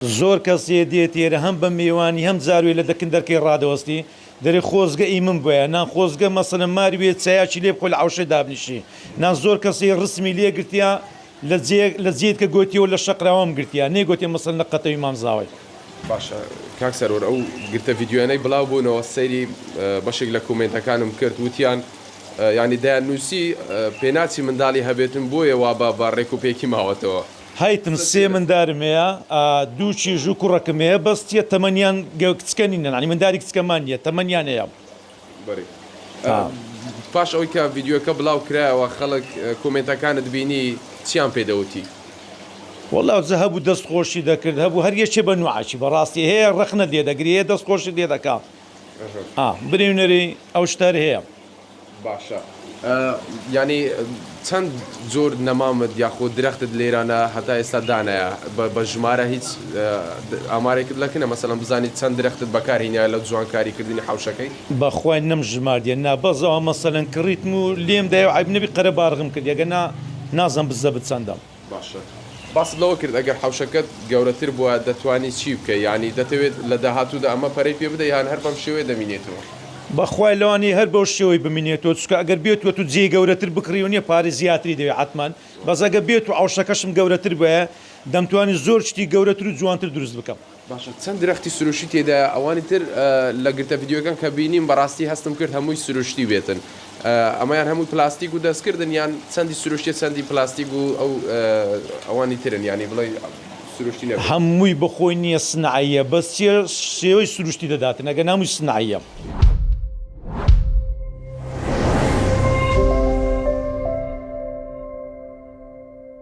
زۆر کەس یێ دێ تێرە هەم بە مێوانی هەم زاروێ لە دەکن دەرکەی ڕادەوەستی دەرێ خۆزگە ئی من بوایە نان خۆزگە مەسەلەن مار وێ چایاکی لێ بخۆ لە عەوشێ دابنیشی نان زۆر کەس یێ ڕسمی لێ گرتیا لە جێ لە جێ کە گۆتیەوە لە شەقراوەم گرتیا نێ گۆتێ مەسەلەن لە قەتەوی مام زاوای. باشە کاک سەرور ئەو گرتە ڤیدیۆیانەی بلاو بونەوە سەیری بەشێک لە کۆمێنتەکانم کرد وتیان یانی دەیان نوسی پێناچی مندالی هەبێتن بۆیە وا بە بە ڕێکو پێکی ماوەتەوە. هەیتم سێ مندارم هەیە ئا دوو چیژ و کوڕەکم هەیە بەس چیە تەمەنیان گە کچکە نینە نانی منداری کچکەمان نیە تەمەنیان هەیە. بەری ئا پاش ئەوەی کە ڤیدیۆکە بلاو کرایەوە خەڵک کۆمێنتەکانت بینی چیان پێ دەوتی؟ وەڵا جە هەبوو دەست خۆشی دەکرد هەبوو هەر یەکێ بە نوعەکی بەڕاستی هەیە ڕەخنەت لێ دەگری هەیە دەست خۆشت لێ دەکا ئا بریونەری ئەو شتەر هەیە باشە یانی چەند جۆر نەمامت یاخۆ درەختت لێرانە هەتا ئێستا دانایە بە ژمارە هیچ ئامارێکت لەکنە مەسەلم بزانیت چەند درەختت بەکارهینە لە جوانکاری کردنی حوشەکەی بەخوای نەم ژماردیە نا بەس ئەوە مەسەلەن کڕیتم و لێم دایە و عەیب نەبی قەرەباڵغم کردیە گەر نا نازم بزەبت چەندە. باشە باست لەوە کرد ئەگەر حەوشەکەت گەورەتر بوایە دەتوانی چی بکەی یانی دەتەوێت لە داهاتوودا ئەمە پەرەی پێ بدەی یان هەر بەم شێوەیە دەمینێتەوە؟ بەخوای لەوانیە هەر بەو شێوەی بمینێتەوە چونکە ئەگەر بێت و تو جێی گەورەتر بکڕی و نیە پارەی زیاتری دەوێت حەتمەن بەس ئەگەر بێت و عەوشەکەشم گەورەتر بوایە دەمتوانی زۆر شتی گەورەتر و جوانتر دروست بکەم. باشە چەند درەختی سروشتی تێدایە ئەوانی تر لە گرتە ڤیدیۆکان کە بینیم بەڕاستی هەستم کرد هەمووی سروشتی بێتن ئەمەیان هەمووی پلاستیک و دەستکردن یان چەندی سروشتی چەندی پلاستیک و ئەو ئەوانی ترن ینی بڵێ سروشتی نە هەمووی بەخۆی نییە سنعەیە بەس چیە شێوەی سروشتی دەداتن ئەگەر نامووی سنعەیە.